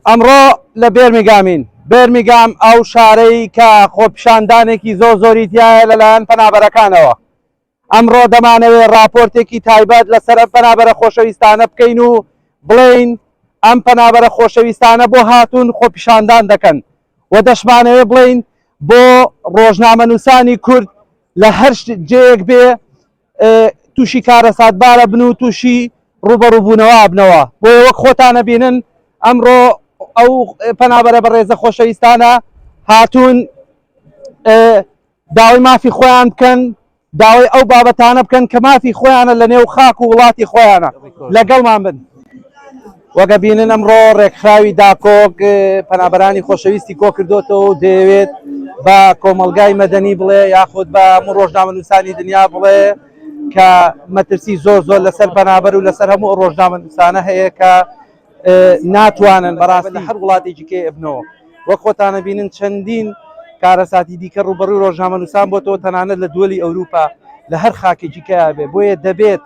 ئەمڕۆ لە بێرمیگامین بێرمیگام ئەو شارەی کە خۆپیشاندانێکی زۆر زۆری تایە لەلایەن پەنابەرەکانەوە ئەمڕۆ دەمانەوێ راپۆرتێکی تایبەت لەسەر ئەم پەنابەرە خۆشەویستانە بکەین و بڵین ئەم پەنابەرە خۆشەویستانە بۆ هاتوون خۆپیشاندان دەکەن و دەشمانەوێ بڵین بۆ ڕۆژنامە نووسانی کورد لە هەر جێیەک بێ تووشی کارەساتبار ئەبن و تووشی ڕووبەڕووبوونەوە ئەبنەوە بۆیە وەک خۆتان ئەبینن ئەمڕۆ ئەو پەنابەرە بەڕێزە خۆشەویستانە هاتوون داوای مافی خۆیان بکەن داوای ئەو بابەتانە بکەن کە مافی خۆیانە لە نێو خاک و وڵاتی خۆیانە لەگەڵمان بن. وەک ئەبینن ئەمڕۆ ڕێکخراوی داکۆک پەنابەرانی خۆشەویستی کۆکردۆتەوە و دەیەوێت بە کۆمەلگای مەدەنی بڵێ یاخود بە هەموو ڕۆژنامەنووسانی دنیا بڵێ کە مەترسی زۆر زۆر لەسەر پەنابەر و لەسەر هەموو ڕۆژنامەنووسانە هەیە کە ناتوانن بەڕاستی هەر وڵاتێکی کێ ئەبنەوە وەک خۆتانە بینن چەندین کارەساتی دیکە ڕوبەڕوی ڕۆژنامەنووسان بۆتەوە تەنانەت لە دووەلی ئەوروپا لە هەر خاکێکی کەیا بێ بۆیە دەبێت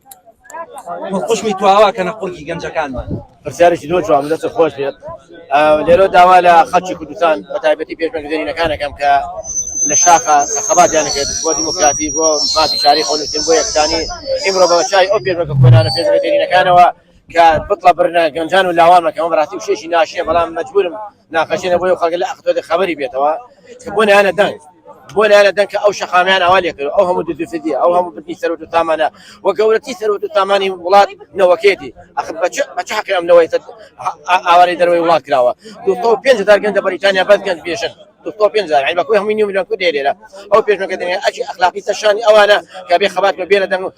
قوشمی تواوا کە نە قوڕگی گەنجەکانمان پرسیارێکی زۆر جواب دەست خۆش بێت لێرۆ داوا لە خەڵکی کوردستان بە تایبەتی پێشمەرگزێنینەکانەکەم کە لە شاخە خەباتیان کرد بۆ دیموکراتی بۆ مافی شاری خۆنووسین بۆ یەکسانی ئیمڕۆ بە چای ئەو پێشمەرگە کۆنانە پێشمەرگزێنینەکانەوە کە بتڵە برنە گەنجان و لاوانمەکەمە بەڕاستی و شێشی ناشیە بەڵام مەجبورم ناخەشێنە بۆ ئەو خەڵکە لە ئەخدۆدە خەبەری بێتەوە کە بۆ نەیانە دەنگ بۆ نەیانە دەنگ کە ئەو شەقامیان ئەوا لێ کرد ئەو هەموو دزوفدی ئەو هەموو بردنی سەروەت و سامانە و گەورەترین سەروەت و سامانی وڵات نەوەکێتی ئەخ بە چ بە چ حەقی ئەم نەوەی سەر ئاوارەی دەروەی وڵات کراوە دوو سەد و پێنج هەزار گەنج لە بەریتانیا بەس گەنج بێژن دوو سەد و پێنج هەزار یعنی بە کوی هەمووی نیو ملیۆن کورد هەیە لێرە ئەو پێشمەرگە دەنگە ئەجی ئەخلاقی سەر شانی ئەوانە کە بێ خەبات بە بێنە دەنگ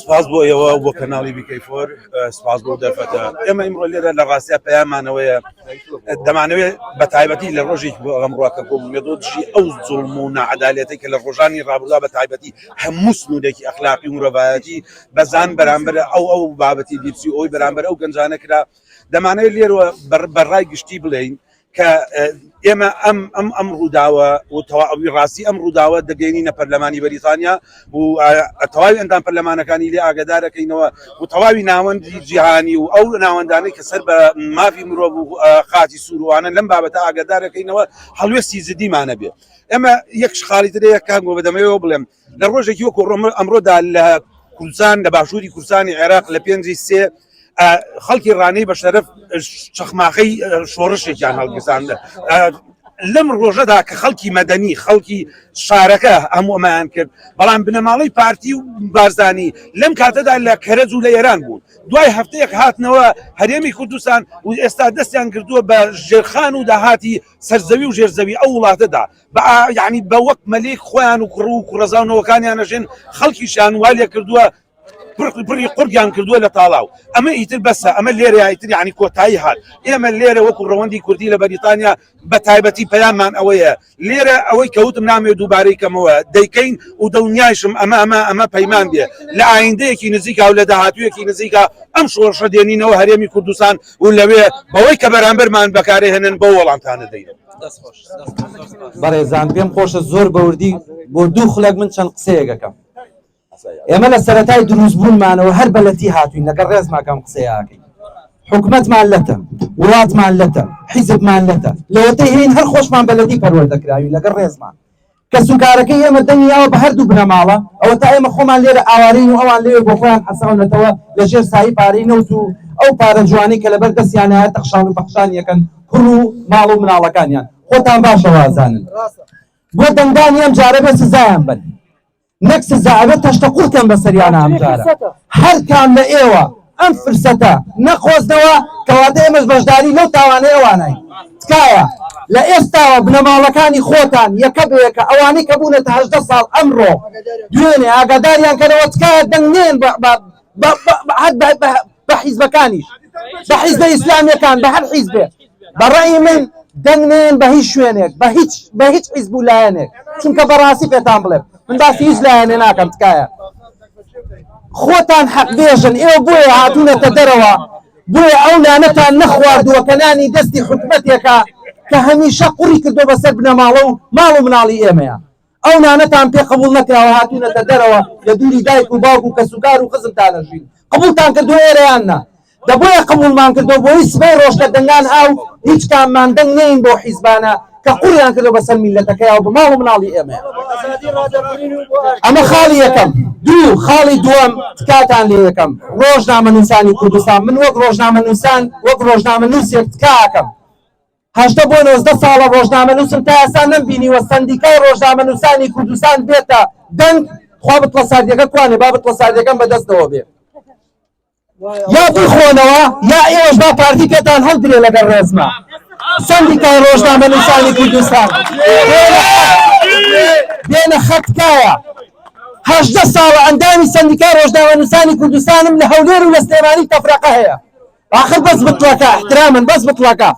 سپاس بۆ ئێوە و بۆ کەناڵی بیکەی فۆر، سپاس بۆ ئەو دەرفەتە. ئێمە ئیمڕۆ لێرە لە ڕاستیا پەیاممان ئەوەیە، دەمانەوێت بە تایبەتی لە ڕۆژێکی بۆ ئەم ڕووەکە کۆ ببینە بۆ دژی ئەو زوڵم و ناعەدالەتەی کە لە ڕۆژانی ڕابردوودا بە تایبەتی هەموو سنوورێکی ئەخلاقی و مرۆڤایەتی بە زان بەرامبەر ئەو ئەو بابەتی لیپسی ئۆی بەرامبەر ئەو گەنجانە کرا. دەمانەوێت لێرەوە بە ڕای گشتی بڵێین کە ئێمە ئەم ئەم ئەم ڕووداوە و تەواوی ڕاستی ئەم ڕووداوە دەگەینینە پەرلەمانی بەریتانیا و تەواوی ئەندام پەرلەمانەکانی لێ ئاگدارەکەینەوە و تەواوی ناوەندی جیهانی و ئەو ناوەندانەی کە سەر بە مافی مرۆڤ و خاچی سووروانە لەم بابەتە ئاگدارەکەینەوە هەڵوێستی زدیمانە بێ ئەمە یەک شخاڵی ترەیە کاک بۆ بەدەمەوە بڵێم لە ڕۆژێکی وەکو ئەمڕۆدا لە کوردستان لە باشووری کوردستانی عێراق لە پێنجی سێ خەڵکی ڕانەی بە شەرف چەخماخەی شۆڕشێکیان هەڵگیرساندە لەم ڕۆژەدا کە خەڵکی مەدەنی خەڵکی شارەکە هەموو ئەمایان کرد بەڵام بنەماڵەی پارتی و بارزانی لەم کاتەدا لە کەرەج و لە ئێران بوون دوای هەفتەیەک هاتنەوە هەرێمی کوردستان و ئێستا دەستیان کردووە بە ژێرخان و داهاتی سەرزەوی و ژێرزەوی ئەو وڵاتەدا بە یەعنی بە وەک مەلیک خۆیان و کوڕ و کوڕەزا و نەوەکانیان ئەژێن، خەڵکیشیان وا لێ کردووە پڕ پڕی قوڕگیان کردووە لە تاڵاو. ئەمە ئیتر بەسە، ئەمە لێرەیە ئیتر یەعنی کۆتایی هات. ئێمە لێرە وەکو ڕەوەندی کوردی لە بەریتانیا بە تایبەتی پەیاممان ئەوەیە، لێرە ئەوەی کە وتم نامەوێ دووبارەی کەمەوە، دەیکەین و دڵنیایشم ئەمە ئەمە ئەمە پەیمان بێ لە ئایندەیەکی نزیکا و لە داهاتوویەکی نزیکا ئەم شۆڕشە دێنینەوە هەرێمی کوردستان و لەوێ بەوەی کە بەرامبەرمان بەکارەهێنن بەو وەڵامتانە دەین. بەڕێزان پێم خۆشە زۆر بەوردی بۆ دوو خولەک من چەند قسەیەکەکەم ئێمە لە سەتای دروستبوونمانەوە هەر بەلەتی هاتوین لەگە ڕێزماکەم قسەیەکەین حکومتمان لەتە وڵاتمان لەتە حیزبمان لەتە لەوەتەی هەین هەر خۆشمان بەلەتی پەروەردەکراوی لەگە ڕێزمان کەسوکارەکەی ئێمە دەنگی یاوە بە هەردوو بنەماڵە، ئەوەتا ئێمە خۆمان لێرە ئاوارەین و ئەوان لەوێ بۆ خۆیان حەساونەتەوە لە ژێر سایەی پارەی نەوت و ئەو پارە جوانەی کە لەبەر دەستیانایە تەخشان و پەخشانی ئەکەن کوڕ و ماڵ و مناڵەکانیان خۆتان باشە وازانن بۆ دەنگدانی ئەم جارە بێ سزایان بەن. نەک سزا ئەبێت تەشتە قوڵ کەم بەسەریانا ئەمجارە هەر کام لە ئێوە ئەم فرسەتە نەقۆزنەوە کەواتە ئێمەش بەشداری لەو تاوانەی ئەوانای تکایە لە ئێستاوە بنەماڵەکانی خۆتان یەکە بەیەکە ئەوانەی کە بوونەتە هەژدە ساڵ ئەمڕۆ دوێنێ ئاگاداریان کەرەوە تکایە دەنگنێن بە بە هەر بە بە بە حیزبەکانیش بە حیزبە ئیسلامیەکان بە هەر حیزبێ بەڕی من دەنگێن بە هیچ شوێنێک بە هیچ بە هیچ حیزب و لایەنێک چونکە بەڕاستی پێتان بڵێ من باسی هیچ لایەنێ ناکەم تکایە خۆتان حەق بێژن ئێوە بۆیە هاتوونەتە دەرەوە بۆیە ئەو لانەتان نەخواردووە کە نانی دەستی حکومەتێکە کە هەمیشە قوڕی کردو بەسەر بنەماڵە و ماڵ و مناڵی ئێمەیە ئەو نانەتان پێ قبوڵ نەکراوە هاتوونەتە دەرەوە لە دووری دایک و باوک و کەسوکار و خزمتان ئەژین قبوڵتان کردووە ئێرە یان نا دە بۆیە قبوڵمان کردووە بۆی سبەی ڕۆژ کە دەنگان ئاو هیچ کاممان دەنگ نێین بۆ حیزبانە کە قوڕیان کردوە بەسەر میللەتەکەیا و بە ماڵ و مناڵی ئێمەیا ئەمە خاڵی یەکەم دوو خاڵی دووەم تکاتان لێ یەکەم ڕۆژنامەنووسانی کوردستان من وەک ڕۆژنامەنووسان وەک ڕۆژنامەنووسێک تکاکەم هەژدە بۆ نۆزدە ساڵە ڕۆژنامەنووسم تا ئێستا نەمبینیوە سەندیکای ڕۆژنامەنووسانی کوردستان بێتە دەنگ خوا بتڵە ساردیەکە کوانێ با بتڵە ساردیەکەم بەدەستەوە بێ یا بخۆنەوە یا ئێوەش با پارتی پێتان هەڵدرێ لەگەڵ ڕێزما سەندیکای ڕۆژنامەنووسانی کوردستان بێنە خەتکایە هەژدە ساڵە ئەندامی سەندیکای ڕۆژنامەنووسانی کوردستانم لە هەولێر و لە سلێمانی تەفرەقە هەیە ئاخر بەس بتڵەکە احترامن بەس بتڵەکە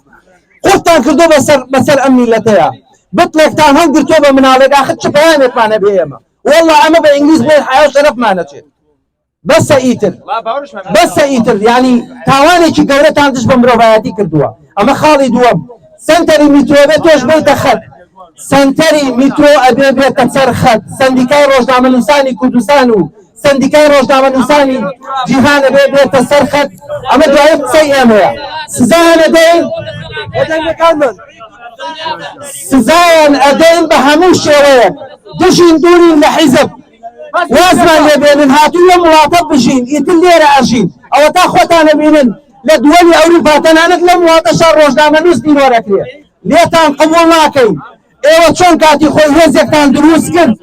قورتان کردو بەسەر بەسەر ئەم میلەتەیا بتڵێکتان هەڵ گرتوە بە مناڵێک ئاخر چ پەیامێکمان هەبێ ئێمە واللە ئەمە بە ئینگلیز بڵێن حیا و شەرەفمان نەچێت بەسە ئیتر بەسە ئیتر یعنی تاوانێکی گەورەتان دژ بە مرۆڤایەتی کردووە ئەمە خاڵی دووەم سەنتەری میترۆ بێت تۆش بێتە خەت سەنتەری میترۆ ئەبێ بێتە سەر خەت سەندیکای ڕۆژنامەنووسانی کوردستان و سەندیکای ڕۆژنامەنووسانی جیهان ئەبێ بێتە سەر خەت، ئەمە دوایین قسەی ئێمەیە، سزایان ئەدەین، بە دەنگەکانمان سزایان ئەدەین بە هەموو شێوەیەک، بژین دوورین لە حیزب، وازمان لێ بێنن، هاتووین لەم وڵاتە بژین، ئیتر لێرە ئەژین، ئەوەتا خۆتان ئەبینن لە دووەلی ئەوروپا تەنانەت لەم وڵاتەشا ڕۆژنامەنووس بیرۆ دەکرێ، لێتان قبووڵ ناکەین. ئێوە چۆن کاتی خۆی هێزێکتان دروست کرد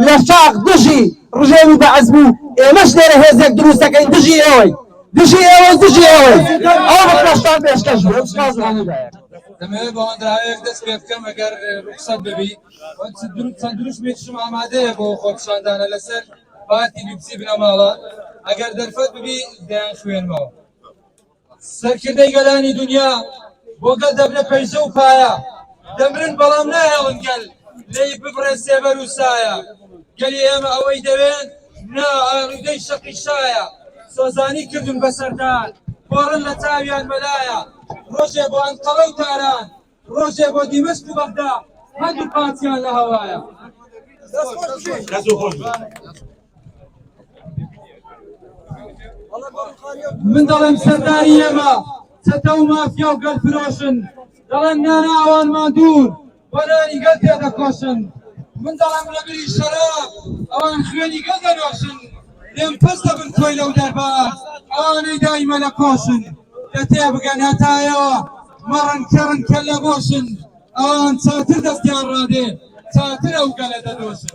لە شاخ دژی ڕژێمی بەعس بوو، ئێمەش لێرە هێزێک دروست دەکەین دژی ئێوەی دژی ئێوەی دژی ئێوەی ئەو ڕکەشتان پێشکەش بوو سپاس لە هەموو لایەک. دەمەوێت بە هۆنراوەیەک دەست پێ بکەم ئەگەر ڕوخسەت ببی و چەند دروشمێکیشم ئامادەیە بۆ خۆپیشاندانە لەسەر پارتی بی بی سی بنەماڵە ئەگەر دەرفەت ببی دەیانخوێنمەوە. سەرکردەی گەلانی دونیا بۆ گەل دەبنە پەیژە و پایە، دەمرن بەڵام ناهێڵن گەل لێی ببڕێ سێبەر و سایە. گەلی ئێمە ئەوەی دەوێن نا، ئالوودەی شەقی شایە. سۆزانی کردن بە سەردان، پۆڕن لە چاویان مەلایە. ڕۆژێ بۆ ئەنقەرە و تاران. ڕۆژێ بۆ دیمەشق و بەغدا هەردوو پارتیان لە هەوایە. من دەڵێم سەرداری ئێمە چەتە و مافیا و گەل فرۆشن دەڵێن نانا ئەوانمان دوور بۆ نانی گەل تێ دەکۆشن من دەڵێم لەبری شەراب ئەوان خوێنی گەل دەنۆشن لێم پەس دەبن تۆی لەو دەرباز ئەوانەی دایمە لە کۆشن کە تێبگەن هەتایەوە مەڕن کەڕن کەللە بۆشن ئەوان چاتر دەستیان ڕادێ چاتر ئەو گەلە دەدۆشن.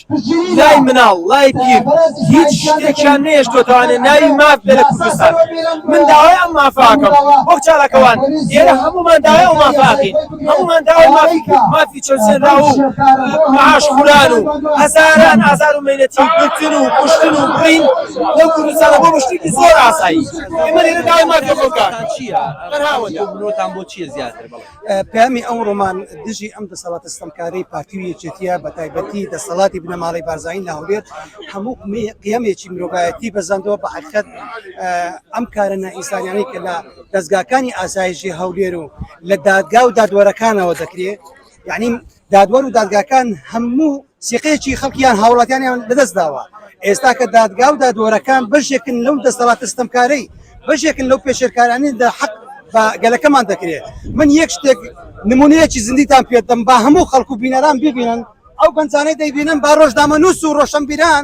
لای مناڵ لای پیر هیچ شتێکیان نەهێشتۆتەوانێ ناوی ماف بێ لە کوردستان من داوای ئەم مافاکەم وەک چالاکەوان ئێرە هەمومان داوای ئەو مافاکەین هەمومان داوای مافی مافی چەوسێنراو و معاش خوران و هەزاران ئازار و مەینەتی گرتن و کوشتن و بڕین لەو کوردستانە بۆ بەشتێکی زۆر ئاسایی ئێمە لێرە داوای مافی خەڵکان چییە؟ تەنها ئەوەندە. بۆتان بۆ چییە زیاتر بڵێ؟ پەیامی ئەو ڕۆمان دژی ئەم دەسەڵاتە ستەمکارەی پارتی و یەکێتییە، بەتایبەتی دەسەڵاتی بنەماڵەی بارزانی لە هەولێر هەموو قیەمێکی مرۆڤایەتی بەزاندووە، بە حەقیقەت ئەم کارە نائینسانیانەی کە لە دەزگاکانی ئاسایشی هەولێر و لە دادگا و دادوەرەکانەوە دەکرێت یعنی دادوەر و دادگاکان هەموو سیقەیەکی خەڵکی یان هاوڵاتیانیان لەدەستداوە، ئێستا کە دادگا و دادوەرەکان بەشێکن لەو دەستەڵاتە ستەمکارەی، بەشێکن لەو پێشێلکارانەی لە حەق بە گەلەکەمان دەکرێت، من یەک شتێک نمونەیەکی زیندیتان پێدەدەم با هەموو خەڵک و بینەران بیبینن، ئەو گەنجانەی دەیبینن با ڕۆژنامەنووس و ڕۆشەنبیران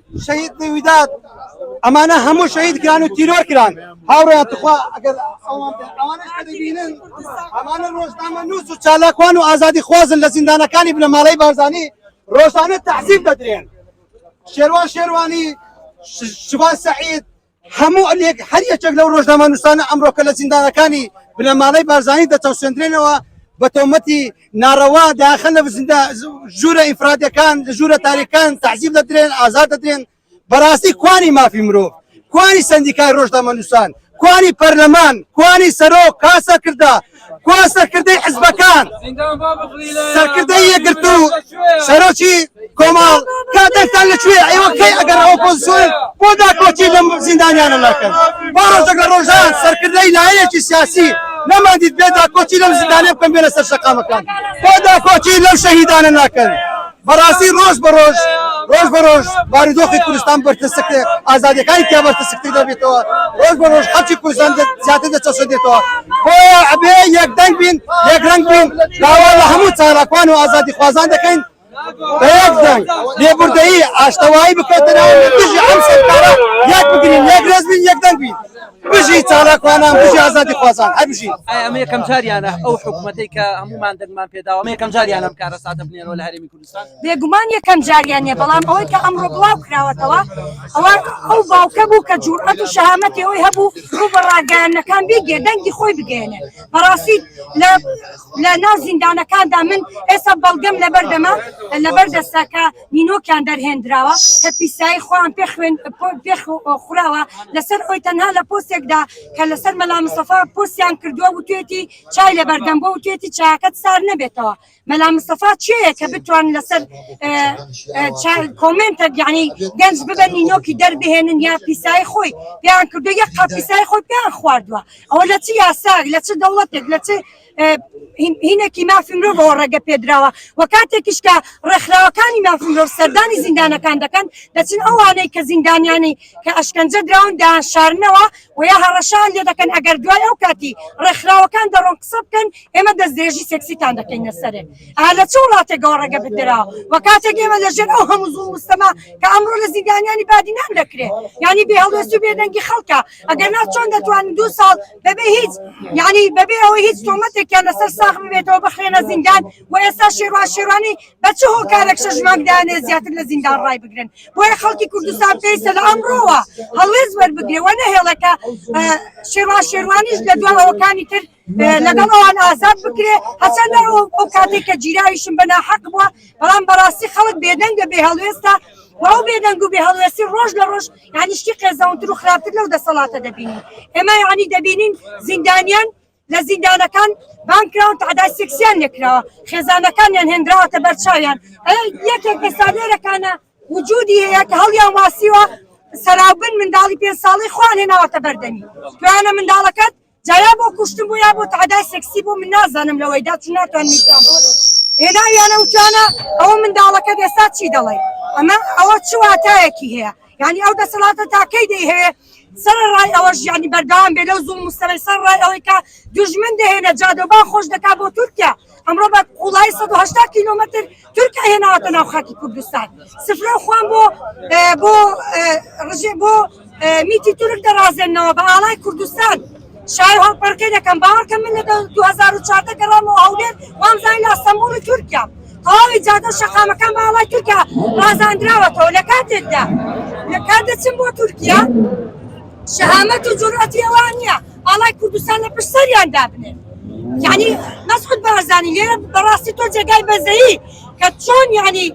شەهید بی ویداد ئەمانە هەموو شەهید کران و تیرۆر کران هاوڕێیان تخوا ئەگەر ئەوان بێ- ئەوانەش کە دەبینن ئەمانە ڕۆژنامە نووس و چالاکوان و ئازادی خوازن لە زیندانەکانی بنەماڵەی بارزانی ڕۆژانە تەعزیب دەدرێن شێروان شێروانی ش- شوان سەعید هەموو هەر یەکێک لەو ڕۆژنامەنووسانە ئەمڕۆکە لە زیندانەکانی بنەماڵەی بارزانی دەچەوسێندرێنەوە بە تۆمەتی ناڕەوا داخەن لە ژوورە ئیفرادەکان لە ژوورە تاریکان تەعزیب دەدرێن ئازاد دەدرێن بەڕاستی کوانی مافی مرۆڤ کوانی سندیکای ڕۆژنامەنووسان کوانی پەرلەمان کوانی سەرۆک کاسە کردە کوا سەرکردەی حزبەکان سەرکردەی یەکگرتو سەرۆکی کۆمەڵ کا دەنگتان لە کوێ ئێوە کەی ئەگەر ئۆپۆزیسیۆن بۆ داکۆکی لەم زیندانیانە ناکەن با ڕۆژێک لە ڕۆژان سەرکردەی لایەنێکی سیاسی نەماندید بێ داکۆکی لەم زیندانە بکەن بێنە سەر شەقامەکان بۆ داکۆکی لەم شەهیدانە ناکەن بەڕاستی ڕۆژ بە ڕۆژ ڕۆژ بە ڕۆژ بارودۆخی کوردستان بەرتەسکتر ئازادیەکانی تیا بەرتەسکتر دەبێتەوە ڕۆژ بە ڕۆژ خەڵکی کوردستان زیاتر دەچەسەدێتەوە بۆیە ئەبێ یەکدەنگ بین یەک ڕەنگ بین داوا لە هەموو چالاکوان و ئازادی خوازان دەکەین بەیەکدەنگ لێبوردەیی ئاشتەوایی بکەوتە ناو دژی ئەم سەرکارە یەک بگرین یەک ڕێز بین یەکدەنگ بین. بژی چالاکوانان بژی ئازادی خوازان هەر بژین. ئایا ئەمە یەکەم جاریانە ئەو حکومەتەی کە هەموومان دەنگمان پێداوە ئەمە یەکەم جاریانە ئەم کارەساتە بنێرەوە لە هەرێمی کوردستان؟ بێگومان یەکەم جاریان نیە بەڵام ئەوەی کە ئەمڕۆ بڵاو کراوەتەوە ئەوە ئەو باوکە بوو کە جورئەت و شەهامەتی ئەوەی هەبوو ڕوو بە ڕاگەیاندنەکان بیگێ دەنگی خۆی بگەیەنێ بەڕاستی لە لە ناو زیندانەکاندا من ئێستا بەڵگەم لەبەردەمە لەبەر دەستە کە نینۆکیان دەرهێندراوە کە پیسایی خۆیان پێ خوێن پێ خوراوە لەسەر ئەوی تەنها لە پۆستێکدا کە لەسەر مەلا مستەفا پۆستیان کردووە و توێتی چای لە بەردەم بۆ و توێتی چاکەت سار نەبێتەوە مەلا مستەفا چێە کە بتوان لەسەر کۆمنتە گیانی گەنج ببن نینۆکی دەربهێنن یا پیسایی خۆی پێیان کردو یە قاپیسای خۆی پێیان خواردووە ئەوە لە چ یاساک لە چ دەوڵەتێک لە چ هینەکی مافی مرۆڤ ئەوە ڕێگە پێدراوە و کاتێکیش کە ڕێکخراوەکانی مافی مرۆڤ سەردانی زیندانەکان دەکەن دەچن ئەوانەی کە زیندانیانی کە ئەشکەنجە دراون دایان شارنەوە و یا هەڕەشان لێ دەکەن ئەگەر دوای ئەو کاتی ڕێکخراوەکان دەڕۆن قسە بکەن ئێمە دەستدرێژی سێکسیتان دەکەینە سەرێ ئا لە چ وڵاتێکەوە ڕێگە بدرا و کاتێک ئێمە لەژێر ئەو هەموو زوڵم مستەما کە ئەمڕۆ لە زیندانیانی بادینان دەکرێت یانی بێهەڵوێست و بێدەنگی خەڵکە ئەگەرنا چۆن دەتوانن دوو ساڵ بەبێ هیچ یعنی بەبێ ئەوەی هیچ تۆمەتێکیان لەسەر ساخ ببێتەوە بخرێنە زیندان و ئێستا شێروان شێروانی بە چ هۆکارێک شەش مانگ دانێ زیاتر لە زیندان ڕای بگرن بۆیە خەڵکی کوردستان پێویستە لە ئەمڕۆوە هەڵوێست وەربگرێ وە نەهێڵێکە شێروان شێروانیش لە دواوەکانی تر لەگەڵ ئەوان ئازاد بکرێ هەچەندە ئەو کاتێک کە گیراویشم بە ناحەق بووە بەڵام بەڕاستی خەڵک بێدەنگ بێ هەڵوێستە و ئەو بێدەنگ و بێ هەڵوێستی ڕۆژ لە ڕۆژ یانی شتی قێزەونتر و خراپتر لەو دەسەڵاتە دەبینین ئێمە یانی دەبینین زیندانیان لە زیندانەکان بانکراون تعدای سکسیان لێکراوە خێزانەکانیان هێنراوەتە بەرچاویان یەکێک ئێستا لێرەکانە وجودی هەیە کە هەڵیان واسیوە سەراوبن منداڵی پێ ساڵی خوان هێناوەتە بەردەمی توانە منداڵەکەت جا یا بۆ کوشتن بوو یا بۆ تەعدای سێکسی بوو من نازانم لەوەیدا چون ناتوانم ئیستا بۆ هێناویانە وتویانە ئەوە منداڵەکەت ئێستا چی دەڵێی ئەمە ئەوە چ واتایەکی هەیە یانی ئەو دەسەڵاتە تا کەی دەیهەوێ سەرەڕای ئەوەش یانی بەردەوام بێ لەو زوڵم و ستەمەی سەرڕای ئەوەی کە دوژمن دەهێنە جادەوبان خۆش دەکا بۆ تورکیا. ئەمڕۆ بە قوڵایی سەد و هەشتا کیلۆمەتر تورکیا هێناوەتە ناو خاکی کوردستان سفرە و خوان بۆ ئێ، بۆ ئێ، ڕژێ بۆ ئێ، میتی تورک دەڕازێنەوە بە ئاڵای کوردستان شای هەڵپەڕکێ دەکەم باوەڕکە من لە دە- 2004 گەڕامەوە هەولێر وامزانی لە ئەستەمبوڵ و تورکیا تەواوی جادە و شەقامەکان بە ئاڵای تورکیا ڕازاندراوەتەوە لە کاتێکدا لە کات دەچم بۆ تورکیا شەهامەت و جورئەتی ئەوان نییە ئاڵای کوردستان لە پشت سەریان دابنێن یعنی مەسعود بەرزانی لێرە بەڕاستی تۆ جێگای بەزەیی کە چۆن یعنی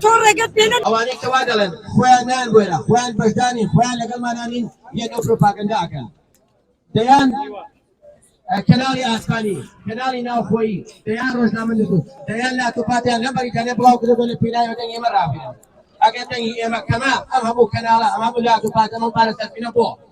تۆ ڕێگەت پێ نەدا ئەوانەی کە وا دەڵێن خۆیان نان بۆیە خۆیان بەشدانی خۆیان لەگەڵمانانین یەک ئەو پروپاگەندا ئەکەن دەیان کەناڵی ئاسمانی کەناڵی ناوخۆیی دەیان ڕۆژنامە نووس دەیان لاتوپاتیان لە بەریتانیا بڵاو کردەوە لە پێناوی دەنگ ئێمە ڕابێنن ئەگەر دەنگی ئێمە کەمە ئەم هەموو کەناڵە ئەم هەموو لاتوپاتەمە پارە سەرفینە بۆ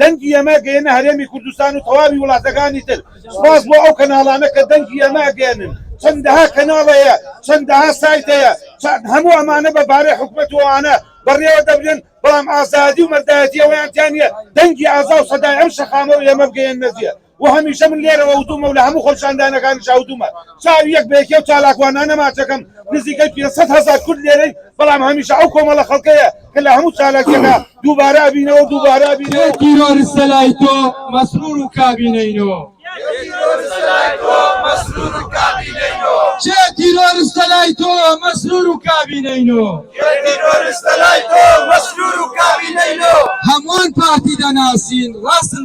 دەنگی ئێمە گەیەنە هەرێمی کوردستان و تەواوی وڵاتەکانی تر سوپاس بۆ ئەو کەناڵانە کە دەنگی ئێمە ئەگەیەنن چەندەها کەناڵ هەیە چەندەها سایت هەیە چەند هەموو ئەمانە بە بارەی حکومەت و ئەوانە بەڕێوە دەبرێن بەڵام ئازادی و مەردایەتی ئەوەیان تیا نیە دەنگی ئازا و سەدای ئەم شەقامە و ئێمە بگەیەننە جێ وە هەمیشە من لێرەوە وتومە و لە هەموو خۆپیشاندانەکانیشا وتومە چاوی یەک بە یەکی ئەو چالاکوانانە ماچەکەم نزیکەی پێنج سەد هەزار کورد لێرەین بەڵام هەمیشە ئەو کۆمەڵە خەڵکەیە کە لە هەموو چالاکیەکا دووبارە ئەبینەوە و دووبارە ئەبینەوە کێ تیرۆرستە لای تۆ مەسرور و کابینەینۆ؟ کێ تیرۆرستە لای تۆ مەسرور و کابینەینۆ؟ هەمووان پارتی دەناسین ڕاستن.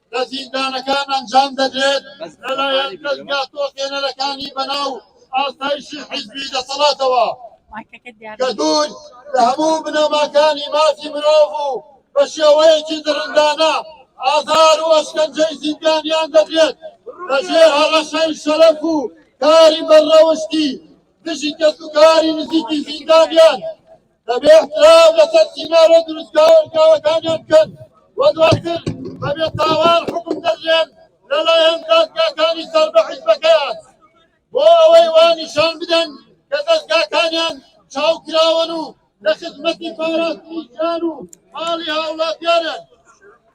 لە زیندانەکان ئەنجام دەدرێت لەلایەن دەزگا تۆقێنەرەکانی بەناو ئاسایشی حیزبی دەسەڵاتەوە کە دوور لە هەموو بنەماکانی مافی مرۆڤ و بە شێوەیەکی دڕندانە ئازار و ئەشکەنجەی زیندانیان دەدرێت لەژێر هەڕەشەی شەرەف و کاری بەڕەوشتی دژی کەسوکاری نزیکی زیندانیان دەبێ احترام لەسەر سیناریۆ دروستکراوە و کارەکانیان بکەن و دواتر بە بێتاوان حکم دەدرێن لەلایەن دادگاکانی سەر بە حیزبەکەیان بۆ ئەوەی وا نیشان بدەن کە دەستگاکانیان چاوکراوەن و لە خزمەتی پاراستنی گیان و ماڵی هاوڵاتیانن.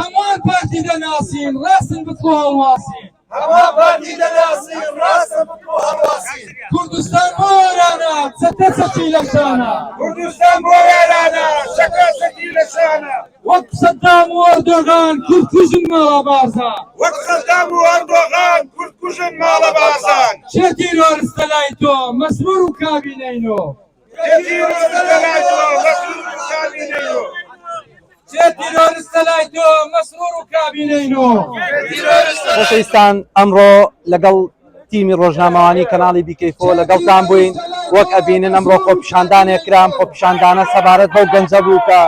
هەموان پارتی دەناسین ڕاستن بتکۆ هەڵواسین. هەموان پارتی دەناسین ڕاستن بتکۆ هەڵواسین. کوردستان بۆ ئێرانە چەتە چەکی لە شانە. کوردستان بۆ ئێرانە چەتە چەکی لە شانە. وەک سەدام و ئەردۆغان کورد کوژن ماڵا بارزان. وەک سەدام و ئەردۆغان کورد کوژن ماڵە بارزان. کێ تیرۆرستە لای تۆ مەسرور و کابینەی نۆ. خۆشەویستان ئەمڕۆ لەگەڵ تیمی ڕۆژنامەوانی کەناڵی بیکەیفۆ لەگەڵتان بووین وەک ئەبینن ئەمڕۆ خۆپیشاندانێک کرام خۆپیشاندانە سەبارەت بەو گەنجە بوو کە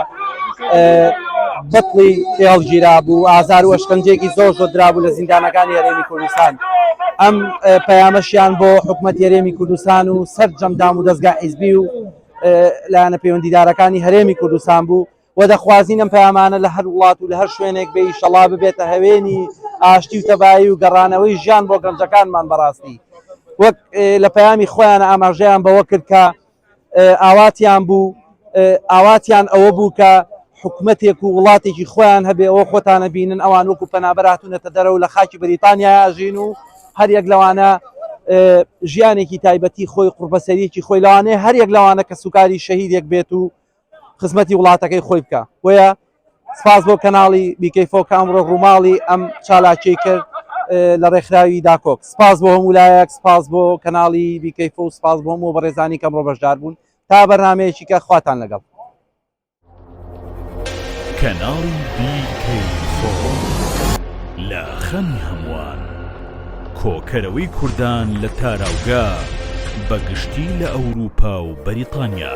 بەتڵی هێڵگیرا بوو ئازار و ئەشکەنجێکی زۆر زۆر درابوو لە زیندانەکانی هەرێمی کوردستان ئەم پەیامەشیان بۆ حکوومەت هەرێمی کوردستان و سەر جەمدام و دەستگا حیزبی و لایەنە پەیوەندیدارەکانی هەرێمی کوردستان بوو و دەخوازین ئەم پەیامانە لە هەر وڵات و لە هەر شوێنێک بێ ئیشەڵا ببێتە هەوێنی ئاشتی و تەبایی و گەڕانەوەی ژیان بۆ گەنجەکانمان بەڕاستی وەک لە پەیامی خۆیان ئاماژەیان بەوە کرد کە ئاواتیان بوو، ئاواتیان ئەوە بوو کە حکومەتێک و وڵاتێکی خۆیان هەبێ، ئەوە خۆتان ئەبینن ئەوان وەکو پەنابەر هاتوونەتە دەرەوە لە خاکی بەریتانیایا ئەژین و هەر یەک لەوانە ژیانێکی تایبەتی خۆی قوڕبەسەریەکی خۆی لەوانەیە هەر یەک لەوانە کەسوکاری شەهیدێک بێت و خزمەتی وڵاتەکەی خۆی بکە بۆیە سپاس بۆ کەناڵی بیکەیفۆ کە ئەمڕۆ ڕووماڵی ئەم چالاکی کرد لە ڕێکخراوی داکۆک سپاس بۆ هەموو لایەک سپاس بۆ کەناڵی بیکەیفۆ و سپاس بۆ هەموو بەڕێزانی کەم ڕۆ بەشدار بوون تا بەرنمەیەکی کە خواتان لەگەڵ کەناڵی بیکەیفۆ لە خەمی هەمووان کۆکەرەوەی کوردان لە تاراوگە بەگشتی لە ئەوروپا و بەریتانیا.